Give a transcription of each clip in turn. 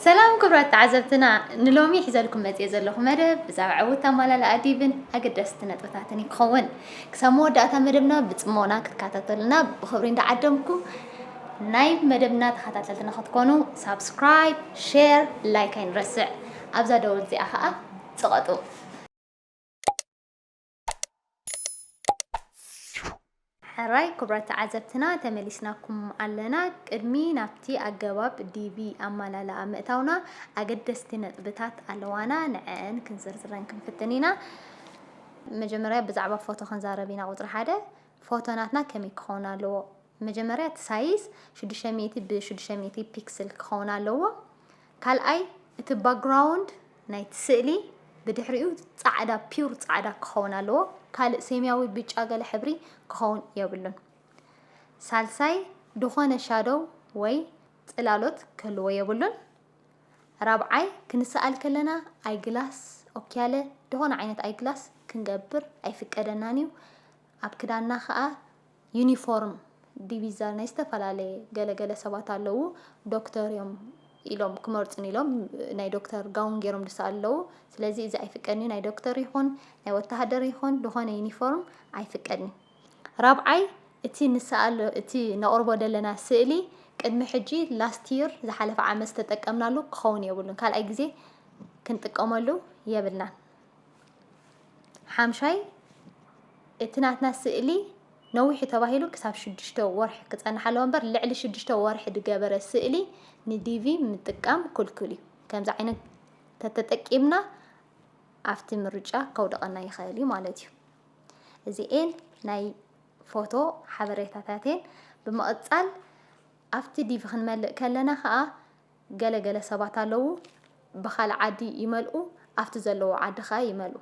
ሰላም ክብራት ተዓዘብትና ንሎሚ ሒዘልኩም መፅየ ዘለኹ መደብ ብዛዕባ ዕውት ኣማላላ ኣዲብን ኣገደስቲ ነጥብታትን እዩ ክኸውን ክሳብ መወዳእታ መደብና ብፅሞና ክትከታተሉና ብክብሪ እንዳዓደምኩ ናይ መደብና ተኸታተልትና ክትኮኑ ሳብስክራይብ ሼር ላይክ ኣይንረስዕ ኣብዛ ደወል እዚኣ ከዓ ፅቐጡ ሕራይ ክቡራት ተዓዘብትና ተመሊስናኩም ኣለና። ቅድሚ ናብቲ ኣገባብ ዲቪ ኣማላልኣ ምእታውና ኣገደስቲ ነጥብታት ኣለዋና ንዐን ክንዝርዝረን ክንፍትን ኢና። መጀመርያ ብዛዕባ ፎቶ ክንዛረብ ኢና ቁፅሪ ሓደ ፎቶ ናትና ከመይ ክኸውን ኣለዎ? መጀመርያ እቲ ሳይዝ 600 ብ600 ፒክስል ክኸውን ኣለዎ። ካልኣይ እቲ ባግራውንድ ናይቲ ስእሊ ብድሕሪኡ ጻዕዳ ፒውር ጻዕዳ ክኸውን ኣለዎ ካልእ ሴምያዊ ብጫ ገለ ሕብሪ ክኸውን የብሉን ሳልሳይ ድኾነ ሻዶው ወይ ጽላሎት ክህልዎ የብሉን ራብዓይ ክንሰኣል ከለና ኣይግላስ ኦክያለ ድኾነ ዓይነት ኣይግላስ ክንገብር ኣይፍቀደናን እዩ ኣብ ክዳንና ከኣ ዩኒፎርም ዲቪዛ ናይ ዝተፈላለየ ገለ ገለ ሰባት ኣለዉ ዶክተር እዮም ኢሎም ክመርጹኒ ኢሎም ናይ ዶክተር ጋውን ገይሮም ዝሰኣሉ ኣለዉ ስለዚ እዚ ኣይፍቀድን እዩ ናይ ዶክተር ይኹን ናይ ወተሃደር ይኹን ዝኾነ ዩኒፎርም ኣይፍቀድን እዩ ራብዓይ እቲ ንሰኣሎ እቲ ነቕርቦ ዘለና ስእሊ ቅድሚ ሕጂ ላስት ይር ዝሓለፈ ዓመት ዝተጠቀምናሉ ክኸውን የብሉን ካልኣይ ግዜ ክንጥቀመሉ የብልናን ሓምሻይ፣ እቲ ናትና ስእሊ ነዊሑ ተባሂሉ ክሳብ ሽዱሽተ ወርሒ ክጸንሕ ኣለዎ እምበር ልዕሊ ሽዱሽተ ወርሒ ዝገበረ ስእሊ ንዲቪ ምጥቃም ክልኩል እዩ። ከምዚ ዓይነት ተተጠቂምና ኣብቲ ምርጫ ከውደቐና ይኽእል እዩ ማለት እዩ። እዚኤን ናይ ፎቶ ሓበሬታታትን ብምቕጻል ኣብቲ ዲቪ ክንመልእ ከለና ከዓ ገለ ገለ ሰባት ኣለዉ ብካልእ ዓዲ ይመልኡ ኣብቲ ዘለዉ ዓዲ ከኣ ይመልኡ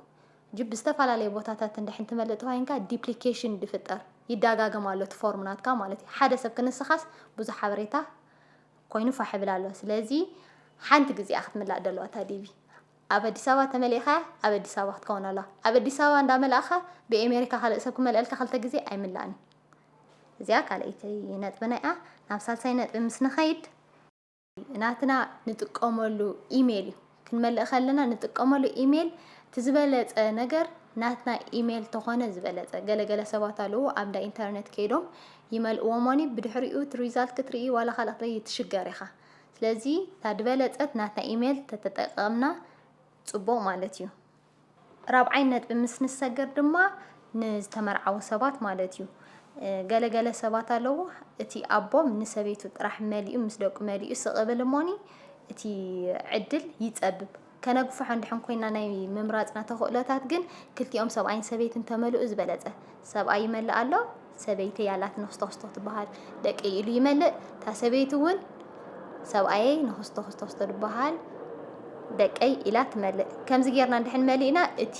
ጅብ ብዝተፈላለየ ቦታታት እንድሕን ትመልእ ተኳይንካ ዲፕሊኬሽን ድፍጠር ይዳጋገም ኣሎ እቲ ፎርም ናትካ ማለት እዩ ሓደ ሰብ ክንስኻስ ብዙሕ ሓበሬታ ኮይኑ ፋሕ ይብል ኣሎ ስለዚ ሓንቲ ግዜ እያ ክትምላእ ደለዋ እታ ዲቪ ኣብ ኣዲስ ኣበባ ተመሊእኻ ኣብ ኣዲስ ኣበባ ክትከውን ኣለዋ ኣብ ኣዲስ ኣበባ እንዳመላእኻ ብኤሜሪካ ካልእ ሰብ ክመልአልካ ክልተ ግዜ ኣይምላእን እዩ እዚኣ ካልኣይቲ ነጥብና እያ። ናብ ሳልሳይ ነጥቢ ምስ ንኸይድ ናትና ንጥቀመሉ ኢሜይል እዩ። ክንመልእ ከለና ንጥቀመሉ ኢሜይል እቲ ዝበለፀ ነገር ናትና ኢሜይል ተኾነ ዝበለፀ ገለገለ ሰባት ኣለዉ ኣብ እንዳ ኢንተርኔት ከይዶም ይመልእዎሞኒ ብድሕሪኡ እቲ ሪዛልት ክትርኢ ዋላ ካልእ ክትርኢ ትሽገር ኢኻ ስለዚ እታ ድበለፀት ናትና ኢሜይል ተተጠቀምና ፅቡቕ ማለት እዩ ራብዓይ ነጥቢ ምስ ንሰገር ድማ ንዝተመርዓዉ ሰባት ማለት እዩ። ገለ ገለ ሰባት ኣለዉ እቲ ኣቦም ንሰበይቱ ጥራሕ መሊኡ ምስ ደቁ መሊኡ ስቕ እብል እሞኒ እቲ ዕድል ይጸብብ። ከነግፍሖ እንድሕን ኮይና ናይ ምምራጽና ተኽእሎታት ግን ክልቲኦም ሰብኣይን ሰበይትን ተመልኡ ዝበለጸ። ሰብኣይ ይመልእ ኣሎ ሰበይተይ ኣላትኒ ክስቶክስቶ ትበሃል ደቀይ ኢሉ ይመልእ እታ ሰበይቲ እውን ሰብኣየይ ንክስቶክስቶክስቶ ትበሃል ደቀይ ኢላ ትመልእ ከምዚ ጌርና እንድሕን መሊእና እቲ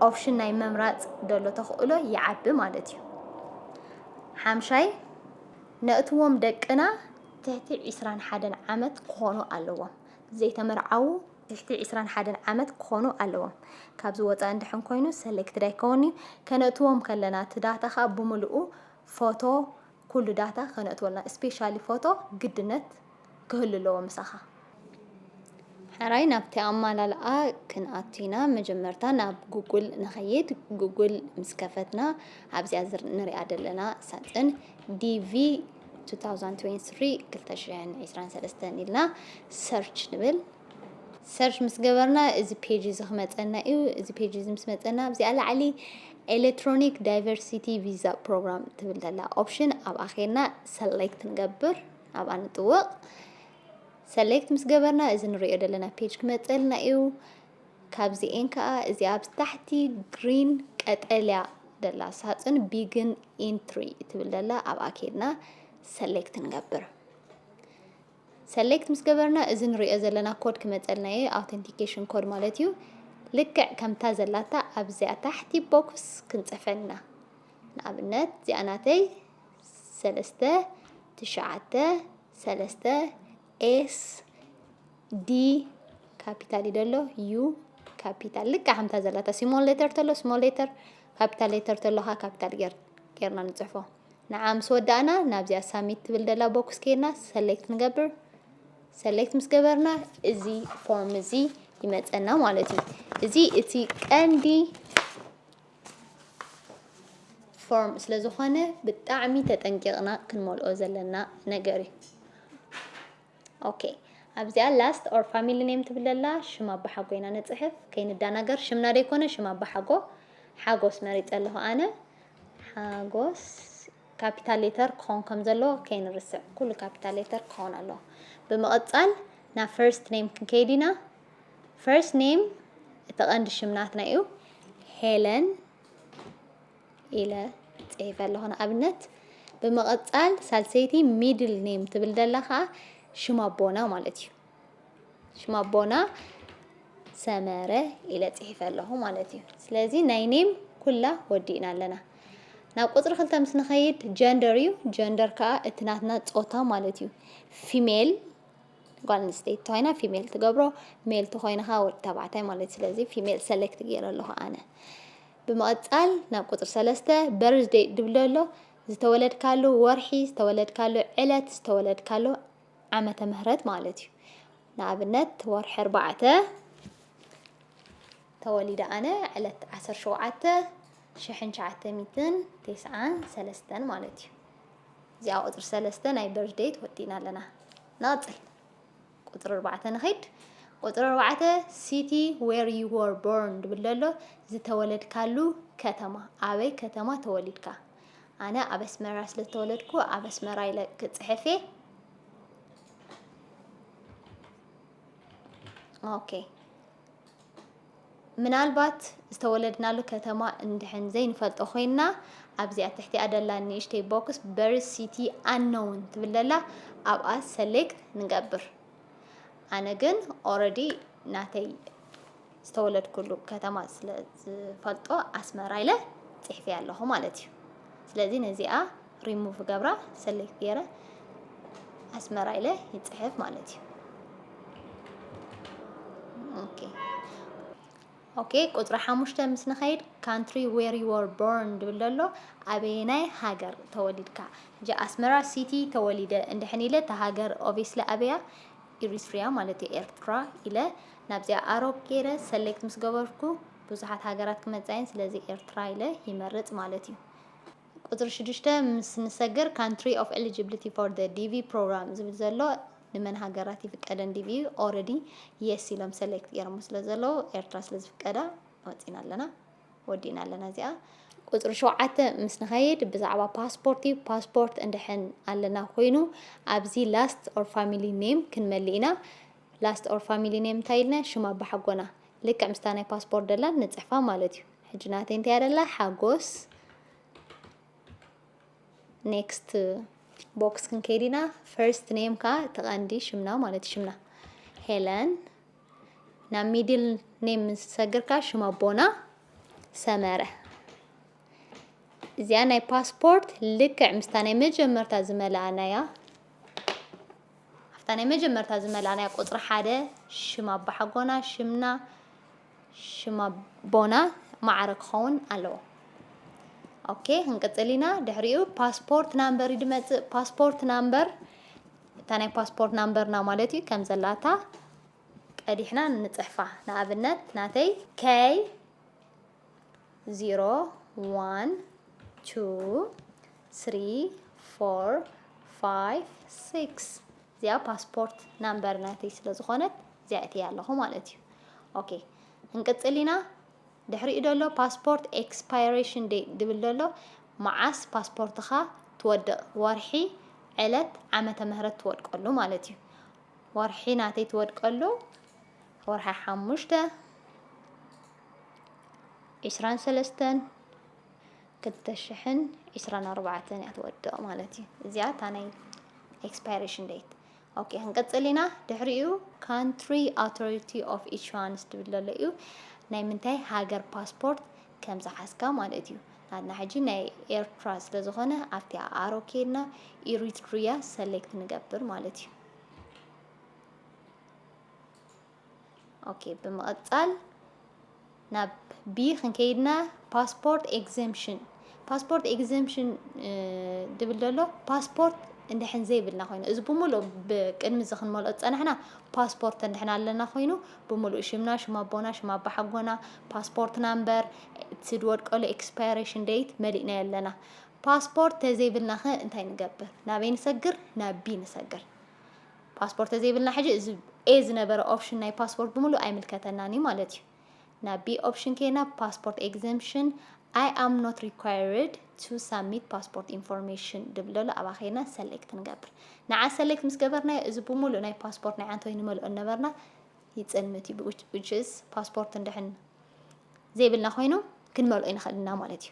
ኦፕሽን ናይ ምምራፅ ደሎ ተኽእሎ ይዓቢ ማለት እዩ ሓምሻይ ነእትዎም ደቅና ትሕቲ ዒስራን ሓደን ዓመት ክኾኑ ኣለዎም ዘይተመርዓዉ ትሕቲ ዕስራን ሓደን ዓመት ክኾኑ ኣለዎም። ካብዚ ወጻኢ እንድሕን ኮይኑ ሰሌክትድ ኣይከውንን'ዩ። ከነእትዎም ከለና እቲ ዳታ ከኣ ብምልኡ ፎቶ ኩሉ ዳታ ከነእትወልና ስፔሻሊ ፎቶ ግድነት ክህሉ ኣለዎ ምሳኻ። ሕራይ ናብቲ ኣማላልኣ ክንኣቱ ኢና መጀመርታ ናብ ጉጉል ንኸይድ ጉጉል ምስ ከፈትና ኣብዚኣ ንሪኣ ዘለና ሳጽን ዲቪ 2023 2023 ኢልና ሰርች ንብል ሰርች ምስ ገበርና እዚ ፔጅ እዚ ክመፀና እዩ እዚ ፔጅ እዚ ምስ መፀና ኣብዚኣ ላዕሊ ኤሌክትሮኒክ ዳይቨርሲቲ ቪዛ ፕሮግራም ትብል ዘላ ኦፕሽን ኣብኣ ኬና ሰሌክት ንገብር ኣብኣ ንጥወቕ ሰሌክት ምስ ገበርና እዚ ንሪኦ ዘለና ፔጅ ክመፀልና እዩ ካብዚኤን ከኣ እዚኣ ኣብ ታሕቲ green ቀጠልያ ደላ ሳጽን begin entry እትብል ደላ ኣብኣ ኬድና select ንገብር። ሰሌክት ምስ ገበርና እዚ ንሪኦ ዘለና ኮድ ክመፀልና እዩ ኣውተንቲኬሽን ኮድ ማለት እዩ ልክዕ ከምታ ዘላታ ኣብዚኣ ታሕቲ ቦክስ ክንፅፈልና ንኣብነት እዚኣ ናተይ ሰለስተ ትሽዓተ ሰለስተ ኤስ ዲ ካፒታል እዩ ደሎ ዩ ካፒታል ልክዕ ከምታ ዘላታ ስሞል ሌተር ተሎ ስሞል ሌተር ካፒታል ሌተር ተሎ ካ ካፒታል ገር ገርና ንጽሕፎ ንዓ ምስ ወዳእና ናብዚኣ ሳሚት ትብል ደላ ቦክስ ከይድና ሰሌክት ንገብር ሰሌክት ምስ ገበርና እዚ ፎርም እዚ ይመፀና ማለት እዩ እዚ እቲ ቀንዲ ፎርም ስለ ዝኾነ ብጣዕሚ ተጠንቂቕና ክንመልኦ ዘለና ነገር እዩ ኦኬ ኣብዚኣ ላስት ኦር ፋሚሊ ኔም ትብል ዘላ ሽም ኣባሓጎ ኢና ንጽሕፍ ከይንዳናገር ሽምና ደይኮነ ሽም ኣባሓጎ ሓጎስ መሪጸ ኣለኹ ኣነ ሓጎስ ካፒታል ሌተር ክኸውን ከም ዘለዎ ከይንርስዕ ኩሉ ካፒታል ሌተር ክኸውን ኣለዎ ብምቕጻል ናብ ፈርስት ኔም ክንከይድ ኢና ፈርስት ኔም እቲ ቀንዲ ሽምናትና እዩ ሄለን ኢለ ጽሒፈ ኣለኹ ንኣብነት። ብምቕጻል ሳልሰይቲ ሚድል ኔም ትብል ደላ ከኣ ሽም ኣቦና ማለት እዩ። ሽም ኣቦና ሰመረ ኢለ ጽሒፈ ኣለኹ ማለት እዩ ስለዚ ናይ ኔም ኩላ ወዲእና ኣለና ናብ ቁፅሪ ክልተ ምስ ንኸይድ ጀንደር እዩ ጀንደር ከዓ እቲ ናትና ፆታ ማለት እዩ ፊሜል ጓል ኣንስተይቲ ተኮይና ፊሜል ትገብሮ ሜል ተኮይንካ ወዲ ተባዕታይ ማለት ስለዚ ፊሜል ሰሌክት ገይረ ኣለኹ ኣነ ብምቕጻል ናብ ቁጽሪ ሰለስተ፣ Birth Date፣ ድብል ዶ ኣሎ? ዝተወለድካሉ ወርሒ፣ ዝተወለድካሉ ዕለት፣ ዝተወለድካሉ ዓመተ ምህረት ማለት እዩ። ንኣብነት ወርሒ ኣርባዕተ ተወሊደ ኣነ ዕለት ዓሰርተ ሸውዓተ ሽሕን ትሽዓተ ሚእትን ቴስዓን ሰለስተን ማለት እዩ። እዚኣ ቁጽሪ ሰለስተ ናይ Birth Date ወዲእና ኣለና። ንቕጽል። ቁጽሪ ኣርባዕተ ንኺድ። ቁጽሪ ኣርባዕተ city where you were born ድብል ኣሎ ዝተወለድካሉ ከተማ ኣበይ ከተማ ተወሊድካ ኣነ ኣብ ኣስመራ ስለ ዝተወለድኩ ኣብ ኣስመራ ኢለ ክጽሕፍ እየ ኦኬ ምናልባት ዝተወለድናሉ ከተማ እንድሕን ዘይንፈልጦ ኮይንና ኣብዚ ኣብ ትሕቲኣ ደላ ንእሽተይ ቦክስ በርዝ ሲቲ ኣነውን ትብል ደላ ኣብኣ ሰሌክት ንገብር ኣነ ግን ኦረዲ ናተይ ዝተወለድኩሉ ከተማ ስለ ዝፈልጦ ኣስመራ ኢለ ጽሕፊ ኣለኹ ማለት እዩ ስለዚ ነዚኣ ሪሙቭ ገብራ ሰሌክት ገይረ ኣስመራ ኢለ ይፅሕፍ ማለት እዩ። ኦኬ ኦኬ ቁፅሪ ሓሙሽተ ምስ ንኸይድ ካንትሪ ዌር ዩ ወር ቦርን ድብል ዘሎ ኣበየናይ ሃገር ተወሊድካ እጂ ኣስመራ ሲቲ ተወሊደ እንድሕን ኢለ እቲ ሃገር ኦብስሊ ኣበያ ኢሪትሪያ ማለት እዩ ኤርትራ ኢለ ናብዚኣ ኣሮብ ገይረ ሰሌክት ምስ ገበርኩ ብዙሓት ሃገራት ክመፃየን ስለዚ ኤርትራ ኢለ ይመርፅ ማለት እዩ ቁጽሪ ሽዱሽተ ምስ ንሰግር ካንትሪ ኦፍ ኤሊጂብሊቲ ፎር ዘ ዲቪ ፕሮግራም ዝብል ዘሎ ንመን ሃገራት ይፍቀደን ዲቪ ኦረዲ የስ ኢሎም ሰሌክት ገይሮሞ ስለ ዘለዉ ኤርትራ ስለ ዝፍቀዳ ወጺና ኣለና ወዲእና ኣለና እዚኣ ቁጽሪ ሸውዓተ ምስ ንኸይድ ብዛዕባ ፓስፖርት እዩ ፓስፖርት እንድሕን ኣለና ኮይኑ ኣብዚ ላስት ኦር ፋሚሊ ኔም ክንመልእ ኢና ላስት ኦር ፋሚሊ ኔም እንታይ ኢልና ሽም ኣባሓጎና ልክዕ ምስታ ናይ ፓስፖርት ደላ ንጽሕፋ ማለት እዩ ሕጂ ናተይ እንታይ ኣደላ ሓጎስ ኔክስት ቦክስ ክንከይድ ኢና ፈርስት ኔም ከዓ ተቐንዲ ሽምና ማለት ሽምና ሄለን ናብ ሚድል ኔም ምስ ሰግርካ ሽም ኣቦና ሰመረ እዚኣ ናይ ፓስፖርት ልክዕ ምስታ ናይ መጀመርታ ዝመልኣናያ ኣብታ ናይ መጀመርታ ዝመልኣናያ ቁፅሪ ሓደ ሽም ኣባሓጎና ሽምና ሽም ኣቦና ማዕረ ክኸውን ኣለዎ። ኦኬ ክንቅጽል ኢና። ድሕሪኡ ፓስፖርት ናምበር እዩ ድመጽእ። ፓስፖርት ናምበር እታ ናይ ፓስፖርት ናምበርና ማለት እዩ ከም ዘላታ ቀዲሕና ንጽሕፋ። ንኣብነት ናተይ ከይ ዚሮ ዋን ቱ ስሪ ፎር ፋይቭ ሲክስ እዚኣ ፓስፖርት ናምበር ናተይ ስለ ዝኾነት እዚኣ እትያ ኣለኹ ማለት እዩ ኦኬ እንቅጽል ኢና ድሕሪኡ ደሎ ፓስፖርት ኤክስፓይሬሽን ዴት ድብል ደሎ መዓስ ፓስፖርትኻ ትወድቕ ወርሒ ዕለት ዓመተ ምህረት ትወድቀሉ ማለት እዩ ወርሒ ናተይ ትወድቀሉ ወርሒ ሓሙሽተ ዒስራን ሰለስተን ክልተ ሽሕን ዒስራን ኣርባዕተን እያ ትወድቕ ማለት እዩ። እዚኣ እታ ናይ ኤክስፓይሬሽን ዴት ኦኬ ክንቅጽል ኢና ድሕሪኡ ካንትሪ ኣውቶሪቲ ኦፍ ኢንሹራንስ ትብል ዘሎ እዩ ናይ ምንታይ ሃገር ፓስፖርት ከም ዝሓዝካ ማለት እዩ ናትና ሕጂ ናይ ኤርትራ ስለ ዝኾነ ኣብቲ ኣሮ ኬድና ኢሪትሪያ ሰሌክት ንገብር ማለት እዩ ኦኬ ብምቕጻል ናብ ቢ ክንከይድና ፓስፖርት ኤግዘምሽን ፓስፖርት ኤግዘምሽን ድብል ዘሎ ፓስፖርት እንድሕን ዘይብልና ኮይኑ እዚ ብምሉእ ብቅድሚ እዚ ክንመልኦ ዝፀናሕና ፓስፖርት እንድሕን ኣለና ኮይኑ ብምሉእ ሽምና ሽም ኣቦና ሽም ኣባ ሓጎና ፓስፖርት ናምበር እቲ ዝወድቀሉ ኤክስፓይሬሽን ደይት መሊእናዮ ኣለና ፓስፖርት ተዘይብልና ኸ እንታይ ንገብር ናበይ ንሰግር ናብ ቢ ንሰግር ፓስፖርት ተዘይብልና ሕጂ እዚ ኤ ዝነበረ ኦፕሽን ናይ ፓስፖርት ብምሉእ ኣይምልከተናን እዩ ማለት እዩ ናብ ቢ ኦፕሽን ኬና ፓስፖርት ኤግዘምፕሽን ኣይ ኣም ኖት ሪኳይርድ ቱ ሳሚት ፓስፖርት ኢንፎርሜሽን ድብለሉ ኣብኣ ኸይና ሰሌክት ንገብር ንዓ ሰሌክት ምስ ገበርናዮ እዚ ብምሉእ ናይ ፓስፖርት ናይ ዓንተወይ ንመልኦ ነበርና ይፅልምት እዩ ዊችስ ፓስፖርት እንድሕን ዘይብልና ኮይኑ ክንመልኦ ይንኽእል ኢና ማለት እዩ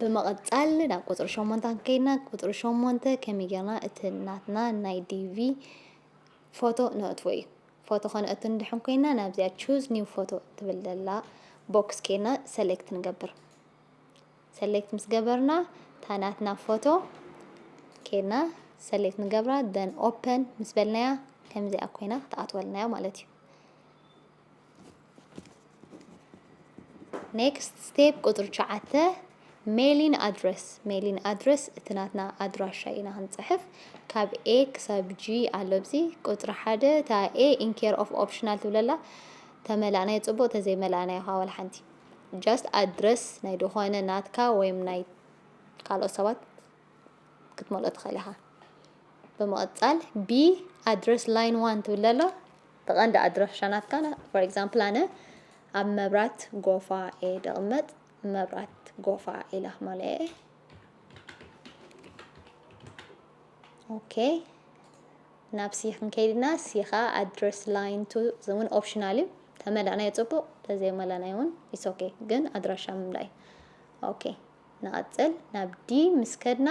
ብምቕጻል ናብ ቁጽሪ ሸሞንተ ከይድና ቁጽሪ ሸሞንተ ከመይ ጌርና እቲ ናትና ናይ ዲቪ ፎቶ ነእትዎ እዩ ፎቶ ከነእቱ ንድሕን ኮይና ናብዚኣ ቹዝ ኒው ፎቶ ትብል ዘላ ቦክስ ከይድና ሰሌክት ንገብር ሰሌክት ምስ ገበርና እታ ናትና ፎቶ ከይድና ሰሌክት ንገብራ ደን ኦፐን ምስ በልናያ ከምዚኣ ኮይና ክትኣትወልናያ ማለት እዩ ኔክስት ስቴፕ ቁፅሪ ትሽዓተ ሜሊን ኣድረስ ሜሊን ኣድረስ እቲ ናትና ኣድራሻ ኢና ክንፅሕፍ ካብ ኤ ክሳብ ጂ ኣሎ ብዚ ቁፅሪ ሓደ እታ ኤ ኢንኬር ኦፍ ኦፕሽናል ትብለላ ተመላእናዮ ፅቡቅ ተዘይመላእናዮ ከዓ ዋላ ሓንቲ ጃስት ኣድረስ ናይ ድኾነ ናትካ ወይም ናይ ካልኦት ሰባት ክትመልኦ ትኽእል ኢኻ ብምቕፃል ቢ ኣድረስ ላይን ዋን ትብለሎ እቲ ቀንዲ ኣድራሻ ናትካ ን for example ኣነ ኣብ መብራት ጎፋ እየ ድቅመጥ መብራት ጎፋ ኢለ ክመልኦ እየ ኦኬ ናብ ሲ ክንከይድ ኢና ሲ ከዓ ኣድረስ ላይን ቱ እውን ኦፕሽናል እዩ ተመላእናዮ ፅቡቅ ተዘይመላእናዮ እውን ኢትስ ኦኬ ግን ኣድራሻ ምምላእ እዩ ኦኬ ንቐጽል ናብ ዲ ምስ ከድና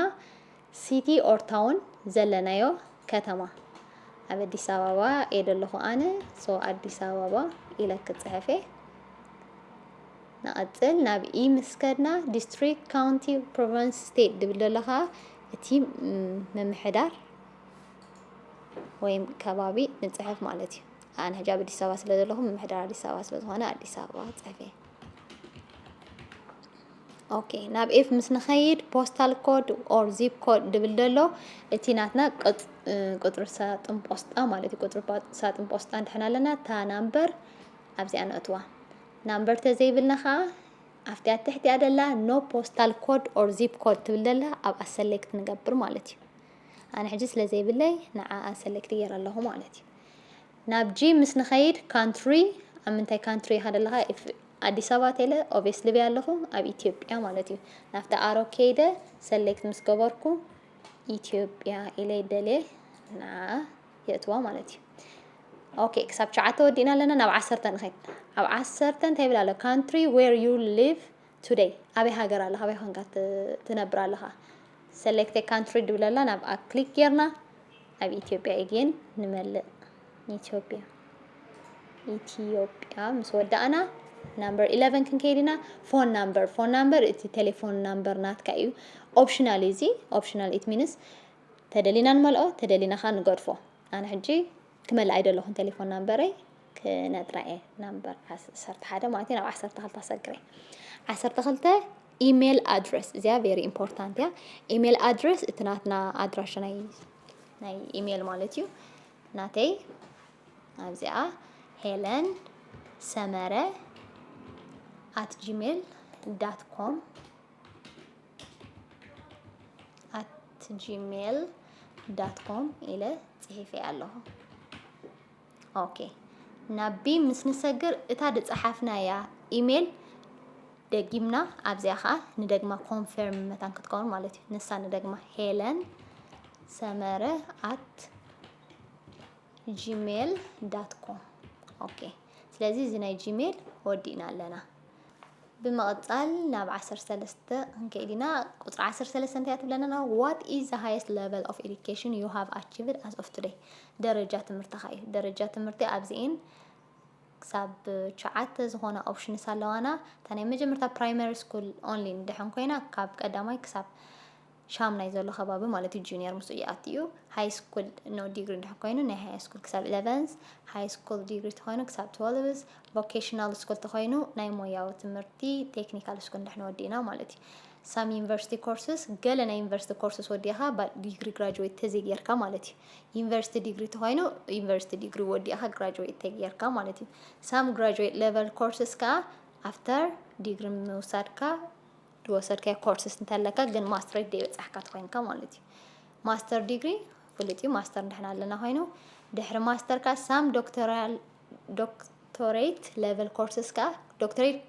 ሲቲ ኦር ታውን ዘለናዮ ከተማ ኣብ ኣዲስ ኣበባ እየ ዘለኹ ኣነ ሶ ኣዲስ ኣበባ ኢለ ክጽሕፍ እየ ንቐጽል ናብ ኢ ምስ ከድና ዲስትሪክት ካውንቲ ፕሮቨንስ ስቴት ድብል ዘሎ ከዓ እቲ ምምሕዳር ወይም ከባቢ ንጽሕፍ ማለት እዩ ኣነ ሕጂ ኣብ ኣዲስ ኣበባ ስለ ዘለኹ ምምሕዳር ኣዲስ ኣበባ ስለ ዝኾነ ኣዲስ ኣበባ ጽሕፍ እየ ኦኬ ናብ ኤፍ ምስ ንኸይድ ፖስታል ኮድ ኦር ዚፕ ኮድ ድብል ደሎ እቲ ናትና ቁፅሪ ሳጥን ፖስጣ ማለት እዩ ቁፅሪ ሳጥን ፖስጣ እንድሕና ኣለና እታ ናምበር ኣብዚኣ ነእትዋ ናምበር ተዘይብልና ከዓ ኣብቲ ኣብ ትሕቲኣ ደላ ኖ ፖስታል ኮድ ኦር ዚፕ ኮድ ትብል ደላ ኣብኣ ሰሌክት ንገብር ማለት እዩ ኣነ ሕጂ ስለ ዘይብለይ ንዓኣ ሰሌክት ገይረ ኣለኹ ማለት እዩ ናብ ጂም ምስ ንኸይድ ካንትሪ ኣብ ምንታይ ካንትሪ ኢኻ ዘለኻ ኢፍ ኣዲስ ኣበባ ቴለ ኦቤስ ልብያ ኣለኹ ኣብ ኢትዮጵያ ማለት እዩ ናብቲ ኣሮ ከይደ ሰሌክት ምስ ገበርኩ ኢትዮጵያ ኢለ ይደልየ ንዓ የእትዋ ማለት እዩ ኦኬ ክሳብ ሸዓተ ወዲእና ኣለና ናብ ዓሰርተ ንኸይድ ኣብ ዓሰርተ እንታይ ይብል ኣሎ ካንትሪ ዌር ዩ ሊቭ Today ኣበይ ሃገር ኣለኻ ኣበይ ኮንካ ትነብር ኣለኻ Select a country ድብለላ ናብኣ ክሊክ ጌርና ኣብ ኢትዮጵያ again ንመልእ ኢትዮጵያ ኢትዮጵያ ምስ ወዳእና ናምበር 11 ክንከይድ ኢና ፎን ናምበር ፎን ናምበር እቲ ቴሌፎን ናምበር ናትካ እዩ ኦፕሽናል እዩ እዚ ኦፕሽናል ኢት ሚንስ ተደሊና ንመልኦ ተደሊና ከዓ ንገድፎ ኣነ ሕጂ ክመልእ ኣይደለኹን ቴሌፎን ናምበረይ ክነጥራ እየ ናምበር ዓሰርተ ሓደ ማለት እዩ ናብ ዓሰርተ ክልተ ኣሰግረ ዓሰርተ ክልተ ኢሜል ኣድረስ እዚኣ ቨሪ ኢምፖርታንት እያ ኢሜል ኣድረስ እቲ ናትና ኣድራሻ ናይ ናይ ኢሜል ማለት እዩ ናተይ ኣብዚኣ ሄለን ሰመረ ኣት ጂሜል ዳት ኮም ኣት ጂሜል ዳት ኮም ኢለ ጽሒፈ ኣለኹ ኦኬ ናብ ቢም ምስ ንሰግር እታ ድጸሓፍናያ ኢሜል ደጊምና ኣብዚኣ ከዓ ንደግማ ኮንፈርም መታን ክትከውን ማለት እዩ ንሳ ንደግማ ሄለን ሰመረ ኣት ጂሜል ዳት ኮም ኦኬ ስለዚ እዚ ናይ ጂሜል ወዲእና ኣለና ብምቕጻል ናብ ዓሰርተ ሰለስተ ክንከይድ ኢና። ቁጽሪ ዓሰርተ ሰለስተ እንታይ እያ ትብለና? What is the highest level of education you have achieved as of today? ደረጃ ትምህርትኻ እዩ። ደረጃ ትምህርቲ ኣብዚኤን ክሳብ ሸዓተ ዝኾና ኦፕሽንስ ኣለዋና። እታ ናይ መጀመርታ ፕራይመሪ ስኩል ኦንሊ ንድሕን ኮይና ካብ ቀዳማይ ክሳብ ሻምናይ ዘሎ ከባቢ ማለት እዩ ጁኒየር ምስኡ ይኣቲ እዩ ሃይ ስኩል ኖ ዲግሪ እንድሕር ኮይኑ ናይ ሃይ ስኩል ክሳብ ኢለቨንስ ሃይ ስኩል ዲግሪ ተኮይኑ ክሳብ ትወልቭስ ቮኬሽናል ስኩል ተኮይኑ ናይ ሞያዊ ትምህርቲ ቴክኒካል ስኩል እንድሕር ወዲእና ማለት እዩ ሳም ዩኒቨርሲቲ ኮርስስ ገለ ናይ ዩኒቨርሲቲ ኮርስስ ወዲእኻ ዲግሪ ግራጅዌት ተዘይጌርካ ማለት እዩ ዩኒቨርሲቲ ዲግሪ ተኮይኑ ዩኒቨርሲቲ ዲግሪ ወዲእኻ ግራጅዌት ተጌርካ ማለት እዩ ሳም ግራጅዌት ሌቨል ኮርስስ ከዓ ኣፍተር ዲግሪ ምውሳድካ ዝወሰድካዮ ኮርስስ እንተለካ ግን ማስትሬት ደይበጻሕካ ተኾይንካ ማለት እዩ ማስተር ዲግሪ ፍሉጥ እዩ ማስተር ንሕና ኣለና ኮይኑ ድሕሪ ማስተርካ ሳም ዶክተራል ዶክቶሬት ሌቨል ኮርስስ ከዓ ዶክተሬት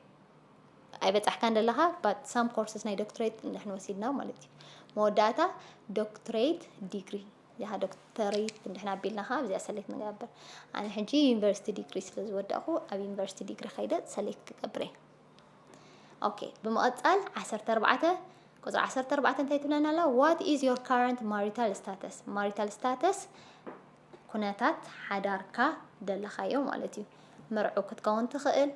ኣይበጻሕካ እንደለኻ ባት ሳም ኮርስስ ናይ ዶክትሬት ንሕን ወሲድና ማለት እዩ መወዳእታ ዶክትሬት ዲግሪ እዚኣ ዶክተሬት ንድሕና ኣቢልና ከዓ ኣብዚኣ ሰሌክት ንገብር ኣነ ሕጂ ዩኒቨርሲቲ ዲግሪ ስለ ዝወዳእኹ ኣብ ዩኒቨርሲቲ ዲግሪ ከይደ ሰሌክት ክገብር እየ ኦኬ ብምቕጻል ዓሰርተ ኣርባዕተ ቁጽሪ ዓሰርተ ኣርባዕተ እንታይ ትብለና ኣላ ዋት ኢዝ ዮር ካረንት ማሪታል ስታተስ ማሪታል ስታተስ ኩነታት ሓዳርካ ደለኻዮ ማለት እዩ መርዑ ክትከውን ትኽእል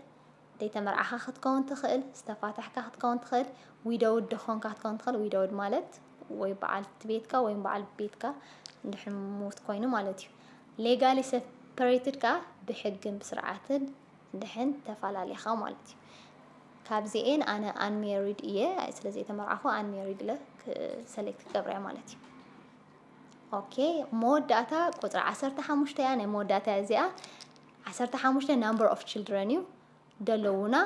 ዘይተመርዓኻ ክትከውን ትኽእል ዝተፋታሕካ ክትከውን ትኽእል ዊደውድ ደኾንካ ክትከውን ትኽእል ዊደውድ ማለት ወይ በዓል ቤትካ ወይም በዓል ቤትካ እንድሕር ሞት ኮይኑ ማለት እዩ ሌጋሊ ሰፐሬትድ ከዓ ብሕግን ብስርዓትን ድሐን ተፋላሊካ ማለት እዩ ካብዚኤን ኣነ ኣንሜሪድ እየ ስለ ዘይተመርዓኹ ኣንሜሪድ ኢለ ሰሌክት ክገብር እየ ማለት እዩ ኦኬ መወዳእታ ቁፅሪ ዓሰርተ ሓሙሽተ እያ ናይ መወዳእታ እያ እዚኣ ዓሰርተ ሓሙሽተ ናምበር ኦፍ ችልድረን እዩ ደለውና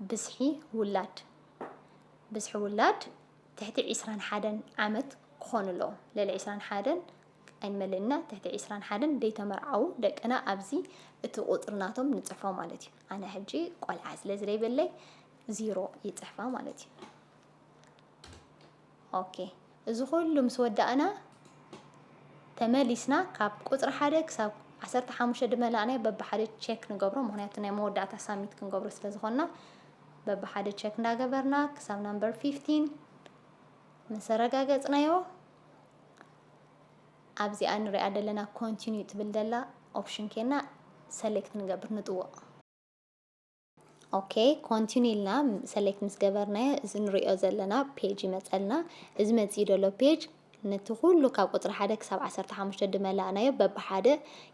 ብዝሒ ውላድ ብዝሒ ውላድ ትሕቲ ዕስራን ሓደን ዓመት ክኾኑ ኣለዎም ልዕሊ ዕስራን ሓደን ኣይንመልእና ትሕቲ ዕስራን ሓደን ደይተመርዓዉ ደቅና ኣብዚ እቲ ቁጽሪ ናቶም ንጽሕፎ ማለት እዩ ኣነ ሕጂ ቆልዓ ስለ ዝለይበለይ ዚሮ ይጽሕፋ ማለት እዩ ኦኬ እዚ ኩሉ ምስ ወዳእና ተመሊስና ካብ ቁጽሪ ሓደ ክሳብ ዓሰርተ ሓሙሽተ ድመላእናዮ በብሓደ ቼክ ንገብሮ ምክንያቱ ናይ መወዳእታ ሳሚት ክንገብሮ ስለ ዝኾንና በብሓደ ቼክ እንዳገበርና ክሳብ ናምበር ፊፍቲን ምስ ኣረጋገጽናዮ ኣብዚኣ ንሪኣ ዘለና ኮንቲኒዩ ትብል ዘላ ኦፕሽን ኬና ሰሌክት ንገብር ንጥወቕ ኦኬ ኮንቲኒ ኢልና ሰሌክት ምስ ገበርናዮ እዚ ንሪኦ ዘለና ፔጅ ይመፀልና እዚ መፅኡ ዘሎ ፔጅ ነቲ ኩሉ ካብ ቁፅሪ ሓደ ክሳብ ዓሰርተ ሓሙሽተ ድመላእናዮ በብሓደ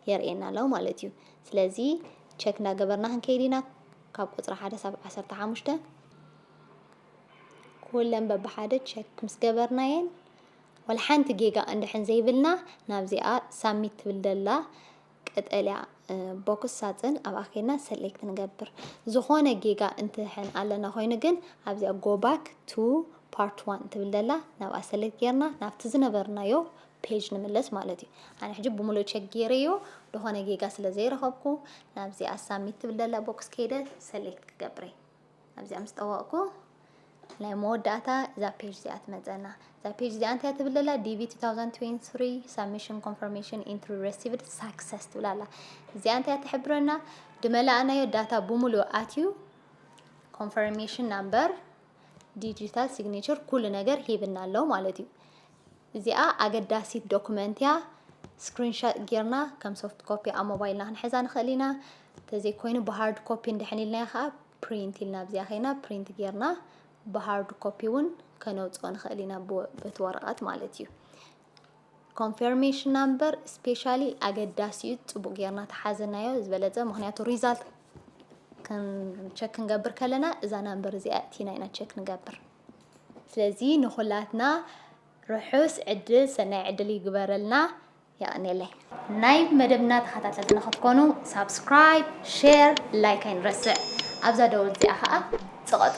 የርእየና ኣሎ ማለት እዩ ስለዚ ቸክ እንዳገበርና ክንከይድ ኢና ካብ ቁፅሪ ሓደ ሳብ ዓሰርተ ሓሙሽተ ኩለን በብሓደ ቸክ ምስ ገበርናየን ወላ ሓንቲ ጌጋ እንድሕን ዘይብልና ናብዚኣ ሳሚት ትብል ደላ ቀጠልያ ቦክስ ሳፅን ኣብ ኣኼና ሰሌክት ንገብር ዝኾነ ጌጋ እንትሕን ኣለና ኮይኑ ግን ኣብዚኣ ጎባክ ቱ ፓርት ዋን ትብል ደላ ናብኣ ሰሌክት ጌርና ናብቲ ዝነበርናዮ ፔጅ ንምለስ ማለት እዩ ኣነ ሕጂ ብምሉእ ቸክ ጌረዮ ዝኾነ ጌጋ ስለ ዘይረኸብኩ ናብዚኣ ሳሚት ትብል ደላ ቦክስ ከይደ ሰሌክት ክገብረይ ኣብዚኣ ምስ ጠወቕኩ ናይ መወዳእታ እዛ ፔጅ እዚኣ ትመፀና እዛ ፔጅ እዚኣ እንታይ ትብል ዘላ ዲቪ 2023 ሳብሚሽን ኮንፈርሜሽን ኢንትሪ ረሲቭድ ሳክሰስ ትብል ኣላ እዚኣ እንታይ ትሕብረና ድመላእናዮ ዳታ ብምሉእ ኣትዩ ኮንፈርሜሽን ናምበር ዲጂታል ሲግኔቸር ኩሉ ነገር ሂብና ኣሎ ማለት እዩ እዚኣ ኣገዳሲት ዶኩመንት እያ ስክሪንሻት ጌርና ከም ሶፍት ኮፒ ኣብ ሞባይልና ክንሕዛ ንኽእል ኢና ተዘይኮይኑ ብሃርድ ኮፒ እንድሕን ኢልናዮ ከዓ ፕሪንት ኢልና ኣብዚኣ ከይና ፕሪንት ጌርና ብሃርድ ኮፒ እውን ከነውፅኦ ንኽእል ኢና በቲ ወረቐት ማለት እዩ ኮንፌርሜሽን ናምበር ስፔሻሊ ኣገዳሲ እዩ ፅቡቅ ጌርና ተሓዘናዮ ዝበለፀ ምክንያቱ ሪዛልት ቸክ ክንገብር ከለና እዛ ናምበር እዚኣ እቲና ኢና ቸክ ንገብር ስለዚ ንኩላትና ርሑስ ዕድል ሰናይ ዕድል ይግበረልና የቀኔለይ። ናይ መደብና ተኸታተልቲ ንኽትኮኑ ሳብስክራይብ ሼር ላይክ ኣይንረስዕ ኣብዛ ደወል እዚኣ ኸኣ ጽቐጡ።